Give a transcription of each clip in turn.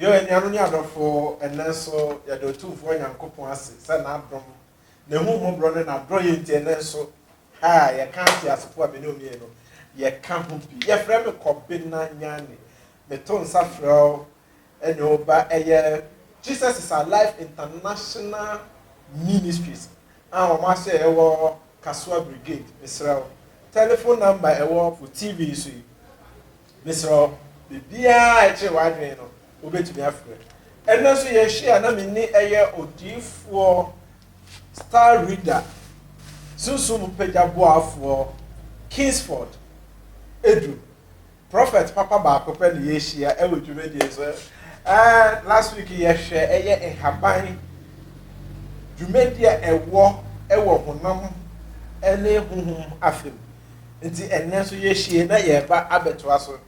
Yo anuanom ne adɔfo, ɛnnɛ nso yɛda Otumfoɔ Nyankopɔn ase sɛ N'adom, N'ahummɔborɔ ne N'adɔeɛ nti ɛnnɛ nso ha a yɛka ateasefo a me ne wɔn yɛ no, yɛka ho bi. Yɛfrɛ me Kɔbena Nyane. Meto nsa frɛ wo ne wo ba ɛyɛ Jesus is Alive International Ministries a wɔn ahyɛ ɛwɔ Kasoa Brigade. Mesrɛ wo, telephone number ɛwɔ wo TV yi so yi, mesrɛ wo, biribiara a ɛkyere w'adwene no, wobɛtumi afrɛ. Ɛnna nso yɛhyia na menni ɛyɛ odiyifoɔ star reader sunsum mu pagya boafoɔ Kingsford Edu. Prɔfɛt papa baako pɛ na yɛahyia wɔ dwumadie so. Ɛɛ, last week yɛhwɛ ɛyɛ nhaban dwumadie a ɛwɔ wɔ honam ne honhom afa mu. Nti ɛnnɛ nso yɛahyia na yɛreba abɛtoa so.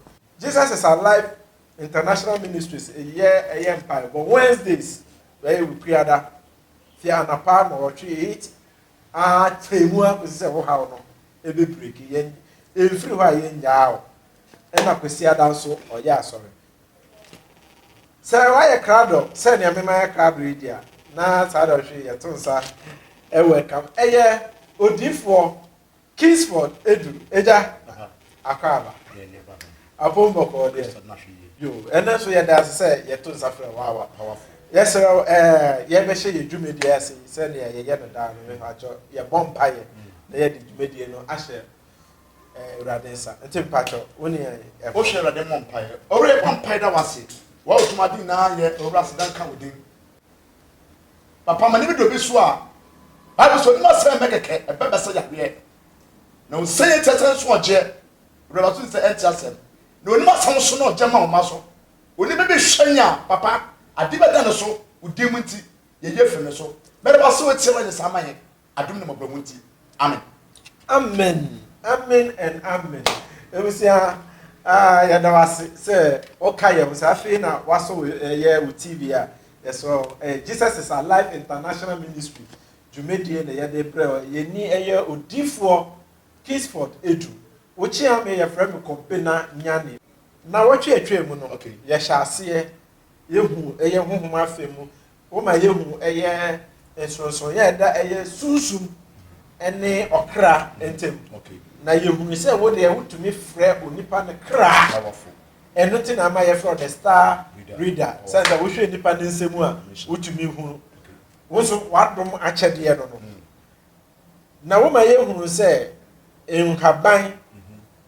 Jesus is Alive International Ministries yɛ ɛyɛ mpaebɔ Wednesdays, ɛyɛ Wukuada, firi anɔpa nnɔwɔtwe, eight, ara kyɛe mu ara kɔsi sɛ wo haw no bɛbreki. Yɛn, ɛmfiri hɔ a yɛnnyaa wo. Ɛnna Kwasiada nso, ɔyɛɛ asɔre. Sɛ woayɛ krado sɛ nea me mayɛ krado yi deɛ a, na saa dɔnhwe yi yɛto nsa welcome. Ɛyɛ odiifoɔ Kingsford edu egya akwaaba apon bɔkɔɔ deɛ yo ɛnɛ nso yɛda ase sɛ yɛto nsa frɛ wawa yɛsrɛ wo ɛɛ yɛbɛhyɛ yɛ dwumadie ase yi sɛdeɛ yɛyɛ no daa no mepakyɛ yɛbɔ mpaeɛ na yɛde dwumadie no ahyɛ awurade nsa nti mepakyɛ wo ne yɛn wohyɛ awurade mmɔ mpaeɛ ɔwura yɛbɔ mpaeɛ da wase wɔwotom ade nyinaa yɛ ɔwura aseda nka wo din Na pama ne bi do bi so a, Bible sɛ ɔnim asɛn mɛ kɛkɛ, ɛbɛ bɛ sɛ yahweɛ. Na ɔnsɛn yɛ tiɛ sɛ nso ɔgyeɛ, rɛba so nsɛ ɛnti asɛm. Na ɔnim asɛn nso na ɔgye ma ɔma so. Ɔnim bɛ bi hwɛ nya, papa, adi bɛ da ne so, ɔdin mu nti, yɛ yɛ firi ne so. Mɛ rɛba so ɔtiɛ wɔ nyɛ saa ma yɛ. Adom ne mmɔborɔmu nti. Amen. Amen amen and amen ebusua ah yɛda wase sɛ ɔka yɛ ho sɛ afei na wasɔ ɛyɛ wo tv a yɛsɔ ɛyɛ jesus is alive international ministry dwumadie na yɛde brɛ yɛni ɛyɛ odifoɔ kisford edu wokyea me yɛfrɛ me kɔmpena nyane na wɔtwe atwa mu no okay yɛhyɛ aseɛ Yehu ɛyɛ honhom afe mu. Woma yehu ɛyɛ nsonsonoeɛ a ɛda ɛyɛ sunsum ne ɔkra ntam. Na yɛhunu sɛ wo deɛ wotumi frɛ onipa no kra. Ɛno nti na ama yɛfrɛ wo the star reader. Sɛ sɛ wohwɛ nnipa no nsɛm a wotumi hunu. Wo nso w'adom akyɛdeɛ no no. na woma yɛhunu sɛ nhaban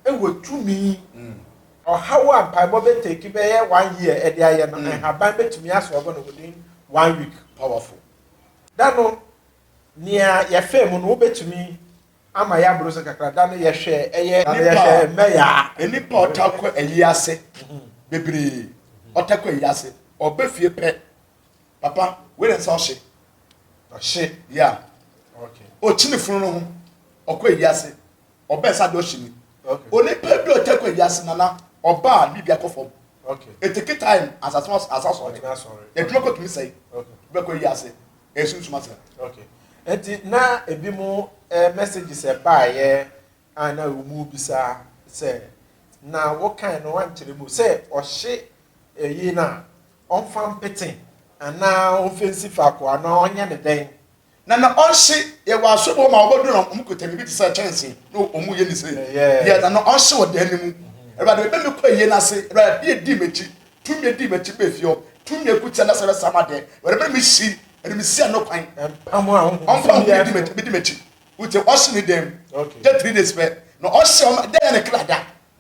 wɔ tumi. Ɔhaw a mpaebɔ bɛteki bɛyɛ one year de ayɛ no, nhaban bɛtumi asɔɔbo no within one week. Powerful. Da no, nea yɛfɛɛ mu no, wobɛtumi ama yɛaboro so kakra. Da no yɛhwɛ ɛyɛ mmɛyaa. Nnipa ɔtaa kɔ ayi ase bebree, ɔtaa kɔ ayi ase, ɔba fie pɛ. Papa, wei na nsa ɔhye. Ɔhye? Yeah. Okay. Ɔkyini funu no ho, ɔkɔ ayi ase, ɔbɛn sa de ɔhye ni. Okay. Onipa bi a ɔtɛ kɔ ayi ase nana, ɔba a biribi akɔ fam. Okay. Eteke time asase no asa sɔre. Ɔtena sɔre. Edwuma okay. kɔtumi sɛe. Okay. Bɛkɔ ayi ase, ɛsunsum ase. Okay. Eti na ebi mo eh, messages ɛbaayɛ a na wɔn bisa sɛ na wɔkan no wankyerɛ mu sɛ ɔhye ɛyi eh, na ɔmfa mpete anaa ɔmfa nsi faako anaa ɔnyɛ no dɛn. Na na ɔnhye yɛ wɔ asɔre mu hɔ ma wɔbɛduru na wɔkuta biribi te sɛ kyɛnsee na wɔyɛ ne sei. Yɛ na na ɔnhye wɔ dan no mu. Awurade, mebɛ mekɔ ayie no ase. Awurade, adeɛ dii m'akyi. Tumi dii m'akyi bɛ fie hɔ. Tumi akutia na sɛ bɛsa m'adeɛ. Awurade, mebɛ mehyi ɛde mesi ano kwan. Ɔmpa ho ahonhom bedi m'akyi. Wote, ɔhye ne dan mu. Gye three days pɛ na ɔhye ɔma dan yɛ ne kra da.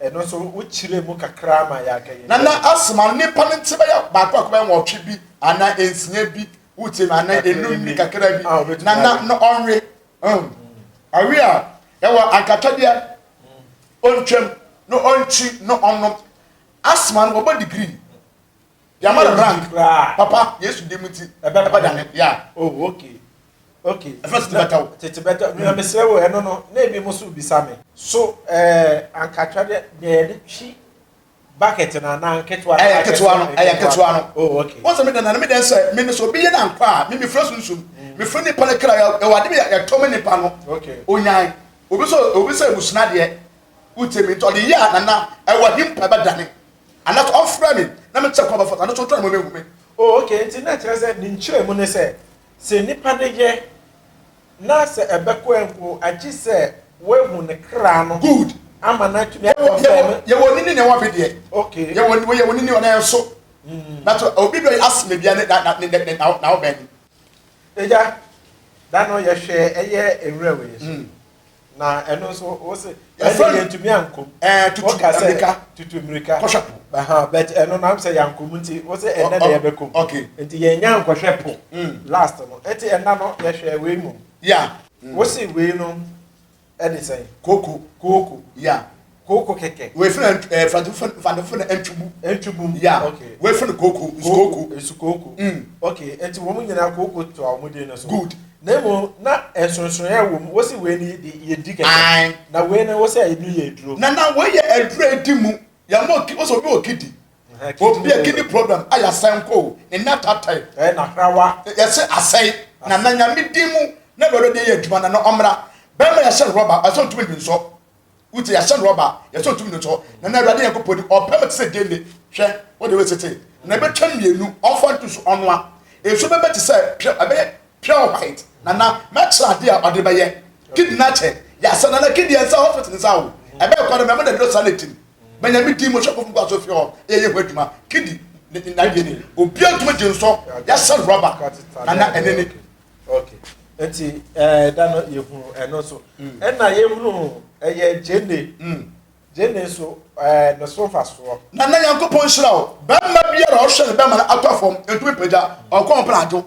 Ɛno nso wokyerɛɛ mu kakra ma yɛaka yɛn. Na na asoma no nipa no nti bɛyɛ baako baako bɛyɛ nwɔtwe bi anaa nsia bi wotie no anaa enum bi kakra bi ah, na na na ɔnwe hmm. awe a ɛwɔ ankatwadeɛ hmm. ɔntwam na ɔnkyi na ɔnom asoma no wɔbɔ degree Yɛama no rank koraa. Papa, Yesu din mu nti, ɛbɛba da no, yeah. Oh, okay. Okay. Ɛfɛ tete bɛtɔ wo. Tete bɛtɔ, nea mesrɛ wo, ɛno no, na ebi mo so bisa me. So, ɛɛ, anka atwa dɛ, nea yɛde twi bucket no anaa nketewa no? Ɛyɛ nketewa no, ɛyɛ nketewa no. Oh, okay. Wɔn sɛ me dɛn na, na me dɛn sɛ, me no sɛ obi yɛ no ankɔ a, me mefrɛ sunsum, mefrɛ nipa no kra, ɛwɔ ade bi a ɛtɔ me nipa no, okay, onyan. Obi sɛ, obi sɛ abusua deɛ, wotie me, nti ɔde yɛ a, nana, ɛwɔ he mpo ɛbɛdane. Ana kɔ ɔfrɛ me na me kyɛ kɔ ɔbɛfata no so ɔtɔ ɛmɔ mehu me. Oh okay nti na ɛkyerɛ sɛ ne nkyerɛ mu ne sɛ sɛ nipa de yɛ na sɛ ɛbɛkɔ ɛnko agye sɛ wahu ne kra no Good. ama no atumi a Yɛwɔ yɛwɔ confirm. yɛwɔ nini na ɛwɔ ɔbe deɛ. Okay. Yɛwɔ wɔ yɛwɔ nini ɔnɛ nso. Na to obi bɛ ask me bia ne na na ne ne na na ɔbɛn. Agya, da no yɛhwɛ ɛyɛ nwura wei so. Mm. na ɛno nso o se ɛfɛ yɛ ntumi ankom ɛɛ tutu mmirika tutu mmirika kɔhwɛ po ɛhɛn bɛt ɛno na sɛ yankom nti o se ɛnɛ na yɛbɛ kom ok nti yɛn nya nkɔhwɛ po mm. last no ɛti ɛna no yɛhwɛ wei mu ya mm. o se wei no ɛde sɛn kooko kooko ya. Kooko kɛkɛ. Wei fɛnɛ ɛɛ eh, fadu fɛn fadu fɛnɛ ɛntubu. Ɛntubu. Ya. Okay. Wei fɛnɛ kooko nsukooko. Nsukooko. Mm. Okay, ɛnti wɔn nyinaa kooko to a wɔn din no so. Good. Na emu na ɛnsonsonyɛ wɔ mu, wɔsi wei ni de yɛ di kɛkɛ. Ae. Na wei no wɔsi ɛni yɛ aduro. Na na wei yɛ aduro edi mu, yɛ mo ki wɔsi obi wɔ kidi. Obi yɛ kidi problem ayɛ asɛn ko, ne nan tatae. Ɛɛ na hrawa. Yɛsi asɛe, na na nyame din mu na wɛrɛ de yɛ adwuma na na ɔmra, bɛɛma yɛ hyɛ rɔba, ɛsɛ ɔntumi nsɔ. Wotie, yɛahyɛ no ɔba, yɛsɔ tumi no so, na na Awurade Nyankopɔn ni, ɔpɛ me te sɛ gyeene. Hwɛ, wode wei tete, na ɛbɛtwa mmienu, ɔmfa nto so, ɔnoa. Nsu bɛbɛ te sɛ pure, ɛbɛyɛ pure white, na na mɛkyerɛ adeɛ a ɔde bɛyɛ. Kid no akyɛ, yɛasɛ, na na Kid yɛ nsa hospital nsa awo. Ɛbɛyɛ kwa dɛ, mɛmo dɛ duro saa na ɛtim. Mɛ Nyame din mu, Shopofo nkɔ aso fie hɔ, yɛ yɛ ho adwuma. Kid, ne, n'adeɛ ni, obiara ntumi gye nsɔ, yɛahyɛ no rɔba, na na ɛne ne. okay nti ɛɛ eh, da no yɛhunu ɛno nso mm. ɛna yɛhunu ɛyɛ gyene mm. gyene nso ɛɛ eh, ne so fa soɔ. na na nyankopɔn nhyira o bɛrima biara ɔhwɛ ne bɛrima no atɔ fam ntumi pagya ɔkɔ ho pɛn adwo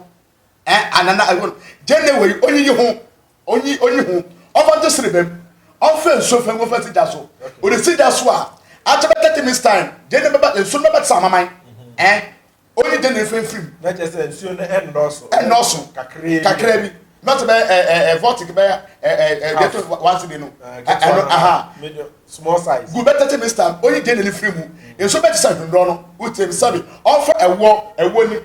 ɛ eh, anana ɛwɔ gyene wɔ yi onyi yi ho onyi onyi ho ɔfa gye sere bɛm ɔfɛ nsuo fɛn ɔfɛ si gya so ɔde si gya so a akyɛ bɛ thirty minutes time gyene bɛba nsuo bɛba ti sɛ amaman ɛ. Oyi de ne mfimfini. Na kyerɛ sɛ nsuo no ɛnnɔɔso. Ɛnnɔɔso. Kakraa bi. Kakraa bi. Na sɛ bɛyɛ ɛɛ ɛɛ vɔtik bɛyɛ ɛɛ ɛɛ gɛtɔ wansi de no. Ɛno aha. Medium small size. Gu bɛ tete mista oyi de ne firi mu. Nsuo bɛ te sɛ nhwendɔɔ no. Wotie mi sɛbi ɔnfa ɛwoɔ ɛwoɔ ni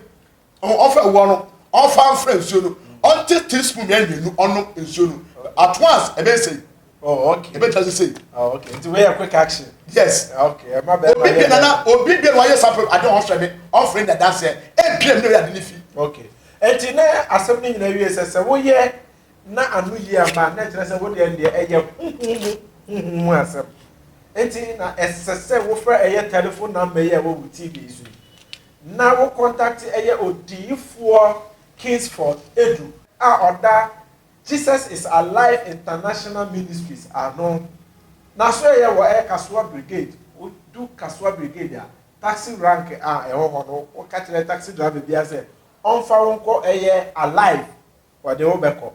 ɔn ɔnfa ɛwoɔ no ɔnfa nfra nsuo no ɔnte tea spoon mmienu ɔnom nsuo no at once ɛbɛyɛ sei. Oh, okay. Ebe just say. Oh, okay. It's very quick action. Yes. Okay. My bad. Obi bi nana, obi bi wa yes afro. I don't offer me. Offering that that's it. E bi me ya dini fi. Okay. Enti na asem ni nyina wie se se wo ye na anu yi ama na kyerɛ sɛ wo deɛ deɛ ɛyɛ huhumu huhumu asɛm enti na ɛsɛ sɛ wofrɛ ɛyɛ telephone number yi a ɛwɔ wo tv yi so na wo contact ɛyɛ odiyifoɔ kingsford edu a ɔda Jesus is Alive International Ministries ano. N'asoɛeɛ wɔ ɛyɛ Kasoa Brigade, wo du Kasoa Brigade a, taxi rank a ɛwɔ hɔ no, wo ka kyerɛ taxi driver biara sɛ ɔmfa wo nkɔ ɛyɛ Alive, ɔde wo bɛkɔ.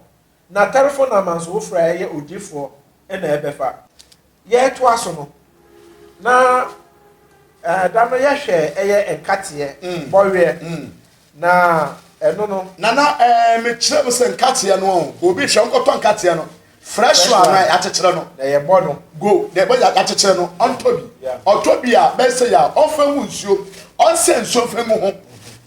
Na tɛlefon namba nso, wo frɛ a ɛyɛ Ogyefoɔ na ɛbɛfa. yɛretoa so no, na ɛɛ da no yɛhwɛ ɛyɛ nkateɛ mm. bɔweɛ mm. na ɛno no. nana ɛɛ mekyerɛ mu sɛ nkateɛ no obi hwɛ nkɔtɔ nkateɛ no fresh one na yɛakyekyerɛ no. na yɛbɔ no. go na yɛbɔ yɛakyekyerɛ no ɔntɔ bi ɔtɔ bi a bɛsɛ yɛ a ɔfɛ mu nsuo ɔnsɛ nsuo fɛ mu ho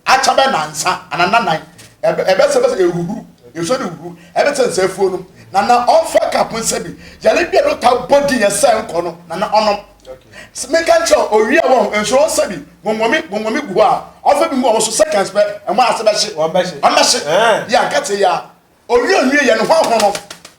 akyɛ bɛ nansa anananan ɛbɛsɛ bɛsɛ ɛhuhuru nsuo de huhuru Ɛne sɛ nsɛafuo no na na ɔmfa ka po nsɛ bi. Yare bi a no taa bɔ din yɛ sɛ nkɔ no na na ɔnom. Meka nkyerɛ owie a wɔn nso wɔn nsɛ bi gongomi gongomi gu hɔ a ɔmfa bi ngu wɔn so seconds pɛ ɛmo ase bɛhye. Wɔn bɛhye. Wɔn bɛhye. Yɛ ankate ya. Owie owie yɛ ne ho ahono no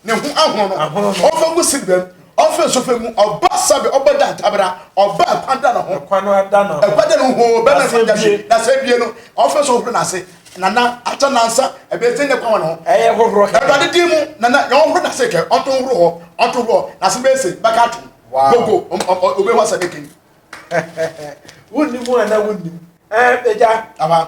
ne ho ahono no ɔmfa gu si bɛm. Ɔfrɛ sɔfɛ mu, ɔba sɛbɛ, ɔba da ntabra, ɔba ɛkwan da no ho. Ɛkwan no ada no ho. Ɛkwan da no ho, bɛma ɛkwan da hye. Na sɛ bie no, ɔfrɛ sɛ ɔhoro n'ase. Nana, akyɛ nansa, ɛbɛyɛ sɛ nyɛ kwan wɔ no ho. Ɛyɛ hohoro kɛkɛ. Awurade din mu, nana, yɛn ɔhoro n'ase kɛ, ɔnto nhoro hɔ, ɔnto nhoro hɔ, n'ase bɛyɛ se, bɛka atom. Gogo, ɔbɛhu asɛ bɛkɛn. Wonnim ho anaa wonnim? Ɛɛ, agya. Awa.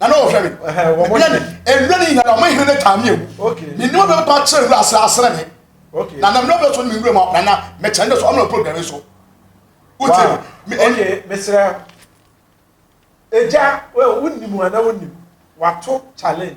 na na wɔhwɛ me mebia ne ɛwura no nyina na ɔma hene no taa me awu ne nneɛma bɛ ba kyerɛ wura asra asra me na na mmerɛ bɛ so ne me wura mu na na mɛkyɛn dɛ so ɔmena program so wotie me ɛyɛ mesrɛ ɛgya wonim ana wonim wato challenge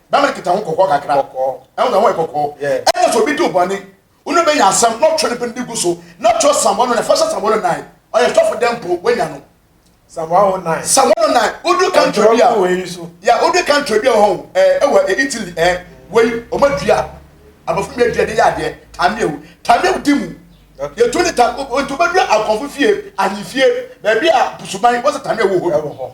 Bɛma no keta ho kɔkɔɔ kakra. Kɔkɔɔ. Ɛho ɛho yɛ kɔkɔɔ. Yɛ. Ɛna sɛ obi di obɔne, wo no bɛnya asɛm na ɔtwe ne bene de gu so na ɔkyerɛ Psalm 109. Fa hyɛ Psalm 109. Ɔyɛ sɔfo dɛn mpo, wanya no. Psalm 109. Psalm 109. Wodu country bi a. Ɔtwerɛ wei so. Ya, wodu country bi a wɔ hɔ ɛɛ ɛwɔ eh, Italy ɛɛ eh, wei wɔn adua, abɔfra bi adua de yɛ adeɛ, tameo, tameo di mu. Yɛtu ne ta, nti wobɛdua akɔnfo fie, ahemfie, baabi a busuban, wɔsɛ tameo wɔ hɔ. Ɛwɔ hɔ.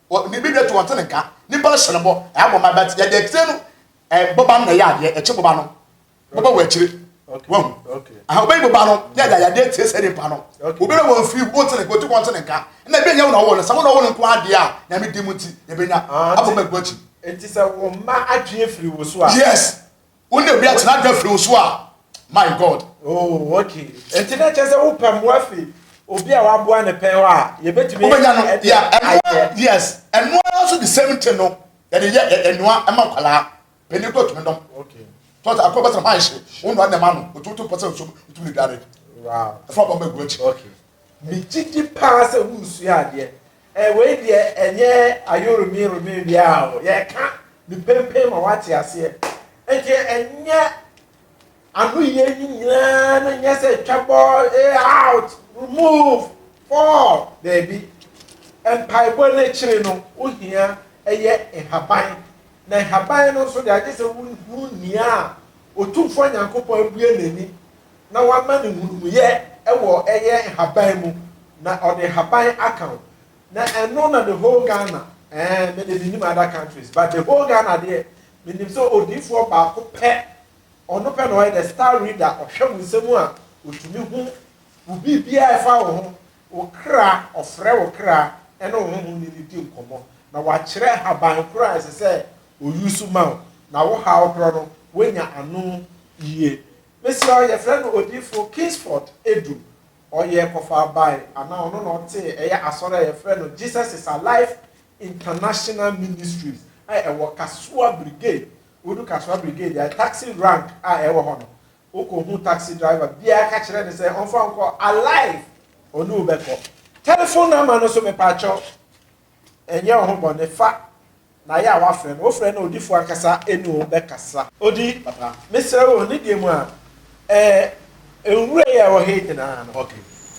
Wɔ ne bɛ dɛ to ɔte ne nka. Nipa no hyɛ no bɔ ɛyɛ abɔ ma but yɛde akyire no ɛɛ boba no na ɛyɛ adeɛ ɛkye boba no boba wɔ akyire wɔn aha ɔbɛyi boba no na yɛde ayadeɛ atie sɛ nipa no obi bɛ wɔn firi wɔn te ne nka ɔte kɔn te ne nka na ebi nyɛ wɔn na ɔwɔ no sɛ wɔn na ɔwɔ no nko adeɛ a nyame di mu ti yɛbɛ nya abɔ ma gu akyi. Nti sɛ wɔn mma adwene firi wɔ so a. Yes. Wo na wia tena dwa firi wo so a my God. Oh okay nti na kyɛ sɛ wo pɛ mmoa fi obi a waboa ne pɛn hɔ a yɛbɛtumi. Wobɛnya no ya ɛnoa yes ɛnoa nso the same thing no yɛde yɛ ɛnoa ɛma nkwalaa pɛni kɔ tumi nom. Okay. Tɔtɔ akɔ bɛtɛn hwan hye wo nua nɛma no otu otu pɔsɛ nso otu ne dware. Wow. Ɛfɔ bɔ mɛ gu akyi. Okay. Me gyidi paa sɛ wusua adeɛ Eh, wei deɛ ɛnyɛ ayoromiyoromi biara o, yɛreka ne pempen ma wate aseɛ. Nti ɛnyɛ ano yɛ ni nyinaa no nyɛ sɛ twa bɔ, eh, out, remove, fall, daabi. Mpaebɔ no akyiri no, wohia ɛyɛ nhaban. Na nhaban no nso deɛ agye sɛ wohunu nea a Otumfoɔ Nyankopɔn abue n'ani na wama no nhunumuyɛ wɔ ɛyɛ nhaban mu na ɔde nhaban aka wo na ɛno na the whole Ghana ɛɛ me de menim other countries but the whole Ghana deɛ menim sɛ odiifoɔ baako pɛ ɔno pɛ na ɔyɛ the star reader ɔhwɛ wo nsɛm a ɔtumi hu wo biribiara ɛfa wo ho wo kra ɔfrɛ wo kra ɛne wo honhom ne ne di nkɔmmɔ na wakyerɛ nhaban korɔ a ɛsɛ sɛ ɔyusu ma wo na wo haw korɔ no woanya ano yie Mesrɛ wo, yɛfrɛ no Odiyifoɔ Kingsford Adu. Ɔyɛɛ kɔfaa bae, anaa ɔno na ɔtee, ɛyɛ asɔre a yɛfrɛ no Jesus is Alive International Ministries a ɛwɔ Kasoa Brigade. Wodu Kasoa Brigade a, taxi rank a ɛwɔ hɔ no, wokɔhu taxi driver biara ka kyerɛ no sɛ ɔmfa wo nkɔ Alive, ɔne wo bɛkɔ. Telephone number no nso, mepaakyɛw, Ɛnyɛ wo ho bɔne fa na yɛ a woafrɛ no, wofrɛ no odifoɔ ankasa ɛne wo bɛkasa. Odi papa. Mesrɛ wo, ne deɛ mu a, ɛɛ, nwura yi a ɛwɔ ha yi nyinaa no,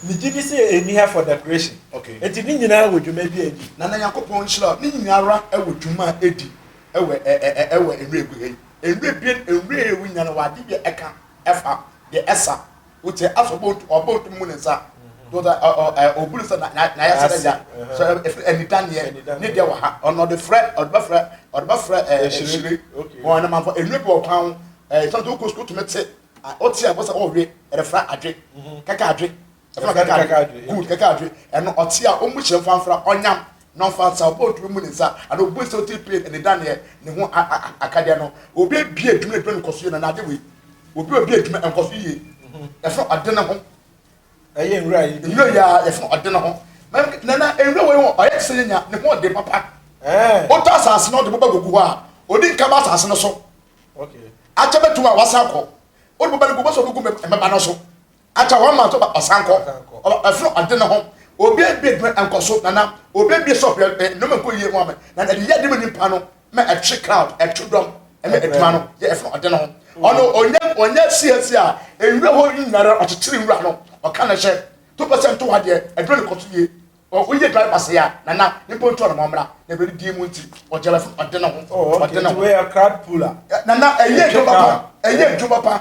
megye di sɛ ɛnni ha for decoration. Enti ne nyinaa wɔ dwuma bi a ɛdi. Na na Nyankopɔn nhyira wo. Ne nyinaa ara wɔ dwuma a ɛdi wɔ ɛ, ɛ, ɛ, ɛ, wɔ nwura gu ha yi. Nwura ebien, nwura a ɛyɛ wu nyinaa no wɔ adeɛ bi a ɛka fa deɛ ɛsa wote asɔ bɔntu ɔbɔ ntu mu ne nsa dɔdɔ ɔbulu sɛ na na na yɛ sɛ dɛ ya sɛ efiri ɛnidaneɛ ne deɛ wɔ ha ɔno ɔde frɛ ɔde bɛ frɛ ɔde bɛ frɛ ɛɛ ehyire wɔn anam afɔ enue bi wɔ kwan ho ɛɛ sɛ ɔkɔ sukuu tumi te ɔte a wɔsɛ ɔwe ɛrefra adwe kɛkɛ adwe ɛfra kɛkɛ adwe good kɛkɛ adwe ɛno ɔte a ɔmu hyɛ nfanfra ɔnyam na ɔfa nsa, ɔbɔ oduru mu ne nsa, anaa obu nsa otiri pee ne ne dan ne ne ho akadeɛ no. Obi abue adwuma na adwuma no nkɔ so yie na n'ade wei. Obi a obue adwuma nkɔ so yie. Yɛfrɛ ɔde ne ho. Ɛyɛ nwura yi. Nwura yi a yɛfrɛ ɔde ne ho. Na na nwura wei ɔyɛ te sɛ yɛnya ne ho ɔde papa. Wotɔ asase na ɔde bɛba gugu hɔ a, ɔdi nka ba asase no so. Akyɛ bɛtum a wasan kɔ. Wode bɛba no gu bɛsɛ ɔbɛgu mmɛba no so. Ata wɔn ma nso ba ɔsankɔ ɔba ɛforo ɔde ne ho obi ebi edwuma ɛnkɔ so nana obi ebi sɔp yɛ ɛ nnoma nkɔ yie mu amɛ na ɛde yɛ de mu nipa no mɛ ɛtwe crowd ɛtwe dɔm ɛmɛ edwuma no yɛ ɛforo ɔde ne ho ɔno ɔnyɛ ɔnyɛ siesie a enwura hɔ nyinara ɔkyekyere nwura no ɔka ne hyɛ to pɛsɛ nto hɔ adeɛ ɛdwuma no kɔ so yie woyɛ dwan ba se a nana nipa ntu ɔno mɔmra na ɛbɛde die mu nti ɔgya bɛforo ɔde ne ho ɔde ne ho nana ɛyɛ edwuma pa ɛyɛ edwuma pa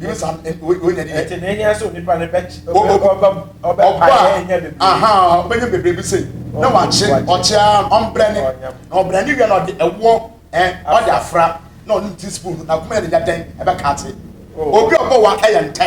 nyɛ saa wei na ɛdeɛ. ɛte na ehia sɛ onipa no bɛ ɔba mu ɔbɛ pa yɛ enya bebree. ahan ɔbɛnya bebree bi sɛ na wakye ɔkye ara ɔmbrɛ ne na ɔbrɛ ne wia na ɔde ɛwoɔ ɛn ɔde afra na ɔne ti spoon na kuma yɛ ne yɛ dɛn ɛbɛ kaate obi ɔbɔ wa ɛyɛ ntɛ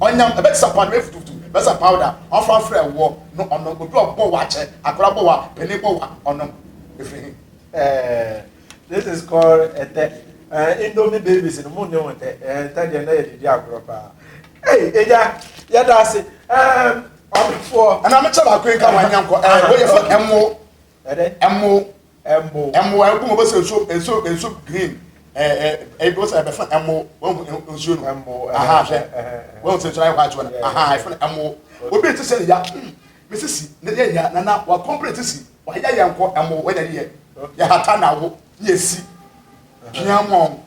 Ɔnyam, ɛbɛ te sɛ paano efutufutu, bɛ sɛ powder, ɔfa afrɛ woɔ no ɔnom, obi ɔbɔ woɔ akyɛ, akora bɔ woɔ a, panin bɔ woɔ a, ɔnom. Efiri he? Eeh this is called ɛtɛ eh indomie babies no mo nni ho tɛ eh ɛtɛ deɛ na yɛde di agorɔ paa ei ɛgya yɛda ase eh ɔmefoɔ ɛna mekyɛ baako yi nka wanya nkɔ eh woyɛ fɔ ɛmo ɛdɛ ɛmo ɛmo ɛmo ɛbom ɔbɛ sɛ nsuo nsuo nsuo green ɛɛ ɛɛ ɛbi ɔsɛ ɛbɛfa ɛmo wɔn nsuo no ɛmo aha hwɛ wɔn sɛ nsuo ayɛ white wɔn aha ɛfɛ no ɛmo obi ti sɛ ya hmm mi sisi ne yɛ ya nana wa kɔmpere ti si wa yɛ yɛ nkɔ ɛmo wɔn yɛ yɛ yɛ hata na wo yɛ si pia mu ɔn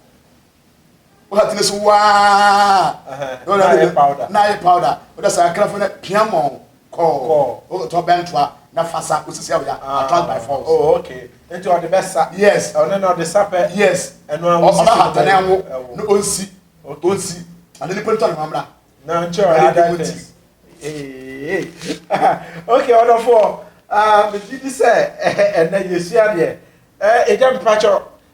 wosatene so waa na ayɛ powder na ayɛ powder wode saa krafo na pia mɔ kɔ wotɔ bɛntoa na fa sa wosisi awya ah. attract by force oh okay nti ɔde bɛ sa yes ɔne na ɔde sa pɛ yes ɛno a wosisi ɔba hatane anwo na onsi onsi ade ne pɛntɔ ne mamra na nkyɛ ɔyɛ adan test ee okay ɔdɔfoɔ ah, megye di sɛ ɛnɛ yɛsua deɛ ɛgya mepakyɛ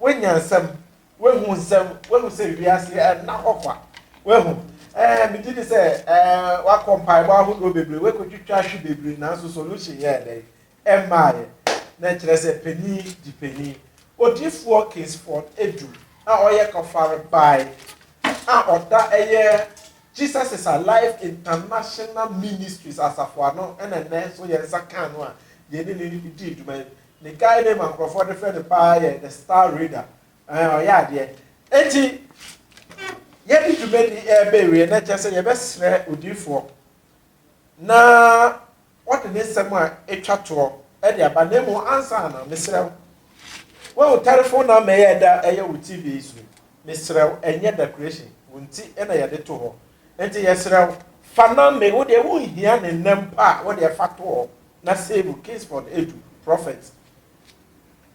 Woanya nsɛm, woahu nsɛm, woahu sɛ wiase nna hɔ kwa, woahu. Ɛɛ, megye di sɛ ɛɛ woakɔ mpaebɔ ahodoɔ bebree, woakɔtwitwa ahwe bebree, nanso solution yɛɛ dɛn? Ɛmmaeɛ. Na ɛkyerɛ sɛ panin gye panin. Odiyifoɔ Kingsford Adu a ɔyɛ Kɔfarebae a ɔda ɛyɛ Jesus is Alive International Ministries asafo ano na ɛnnɛ nso yɛn nsa kaa no a yɛne no dii dwuma yi. Ne guy name a nkurɔfoɔ de frɛ no paa yɛ The Star Reader. Ɛhɛn, ɔyɛ adeɛ. Enti, yɛde dwumadi yi reba awiei na ɛkyerɛ sɛ yɛbɛsrɛ odiyifoɔ na ɔde ne nsɛm a ɛtwa toɔ de aba. Na mmom ansa na, mesrɛ wo, woahu telephone number yi a ɛda ɛyɛ wo TV yi so yi? Mesrɛ wo, ɛnyɛ decoration, wo nti na yɛde to hɔ. Enti yɛsrɛ wo, fa na me, wo deɛ wonhia ne nnɛ mpo a, wo deɛ fa to hɔ. Na sei mu Kingsford edu prophet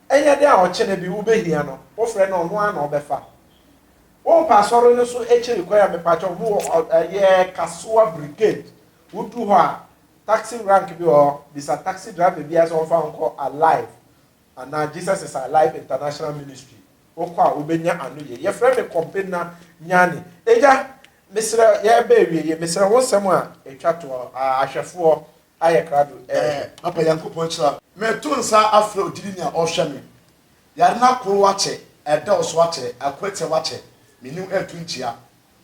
ɛnyɛ dɛn a ɔkyena bi wobɛhia no wofrɛ no ɔno ara na ɔbɛfa wo mpa asɔre no so akyiri kwan a mepakyɛ ɔmo wɔ ɛyɛ kasoa brigade wodu hɔ a taxi rank bi wɔ hɔ bisa taxi driver biara sɛ ɔmfa wo nkɔ alive anaa Jesus is alive international ministry wokɔ a wobɛnya ano yie yɛfrɛ me kɔmpena nyane agya mesrɛ yɛreba awie yɛ mesrɛ wo nsɛm a ɛtwa toɔ ahwɛfoɔ ayɛ krado eh. Eh, Papa Nyankopɔn nhyira. Meto nsa afrɛ wo gyidi nea ɔhwɛ me Yare no akoro wakyɛ, ɛdɔɔso akyɛ, akwatiɛ wakyɛ, Menni wo ɛɛto nkyia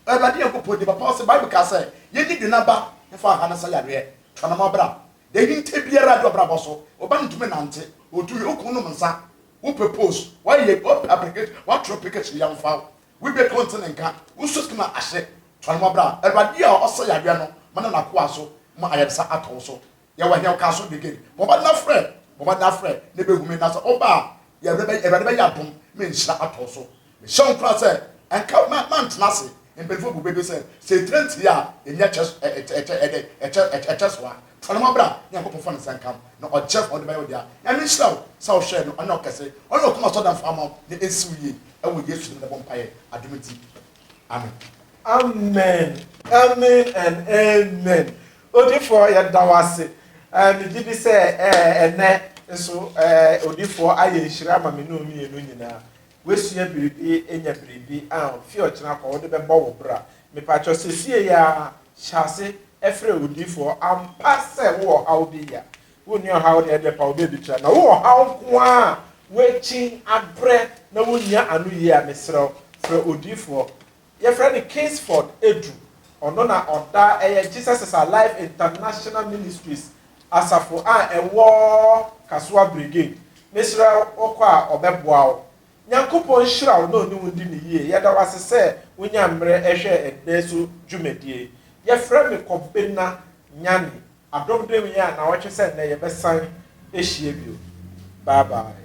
Awurade Nyankopɔn din Papa ɔse Bible kaa sɛ yɛnyi dwene aba mfa aha no sa yareɛ Twa no ma bra Deɛ ahinta biara du abrabɔ so Wo ba no ntumi nante, ɔtu wie, wo kunu nom nsa Wopɛ post, wayɛ, wopɛ application, watwerɛ application Yɛmfa wo Wo bɛ kɔn tene nka, wo nso tena ase, tɔ ne mɔbra, Awurade a ɔsɛ yareɛ no ma ne nakoa so ma ayaresa atɔ wo so, yɛ wɔ hɛn ɔka so de gin, bɔ mmɔden na frɛ, bɔ mmɔden na frɛ na ɛbɛ hu me, na sɛ wo ba a, yɛ wura bɛ, Awurade bɛ yɛ adom ma nhyira atɔ wo so, me hyɛ wo nkuran sɛ, nka na, na ntena ase, mpaninfoɔ bu bɛ bɛ sɛ, sɛ etire ntie a, ɛni ɛkyɛ, ɛkyɛ, ɛkyɛ, ɛdɛ, ɛkyɛ, ɛkyɛ, ɛkyɛ soa, tɔ ne mɔbra, Nyankopɔn fa ne nsa nkam, na ɔkyɛ fa ɔde bɛyɛ wo dea, Nyame nhyira wo, sɛ wo hwɛ no, ɔne ɔkɛse, ɔne ɔkoma sɔ damfo ama wo, na ɛnsi wo yie. Ɛwɔ Yesu din mu na ɛbɔ mpaeɛ, adom nti, amen. Amen, amen and amen. Odifoɔ yɛda wo ase. Eh, megye di sɛ eh, ɛnɛ nso eh, odifoɔ ayɛ nhyira ama me ne wo mmienu nyinaa. Woasua biribi, anya biribi, ah, fi ɔkyena kɔ wode bɛbɔ wo bra. Mepakyɛ sesie ya hyɛ ase ɛfrɛ odifoɔ ampa sɛ wowɔ haw bi ya. Wonni ɔhaw de ɛdeɛ paw baabi tra na wo ɔhaw nko ara a woakyin abrɛ na wonnya ano yie a mesrɛ wo frɛ odiyifoɔ yɛfrɛ no Kingsford Edu ɔno na ɔda ɛyɛ Jesus is Alive International Ministries asafo a ɛwɔ Kasoa Brigade mesrɛ wo kɔ a ɔbɛboa wo Nyankopɔn nhyira wo na ɔne wo ndi no yie yɛda wo ase sɛ wonyaa mmerɛ ɛhwɛɛ ɛnnɛ so dwumadie yi yɛfrɛ me Kɔbena Nyani Adom dem yɛn a nawɔtwe sɛ nnɛ yɛbɛsan ahyia bio bye bye.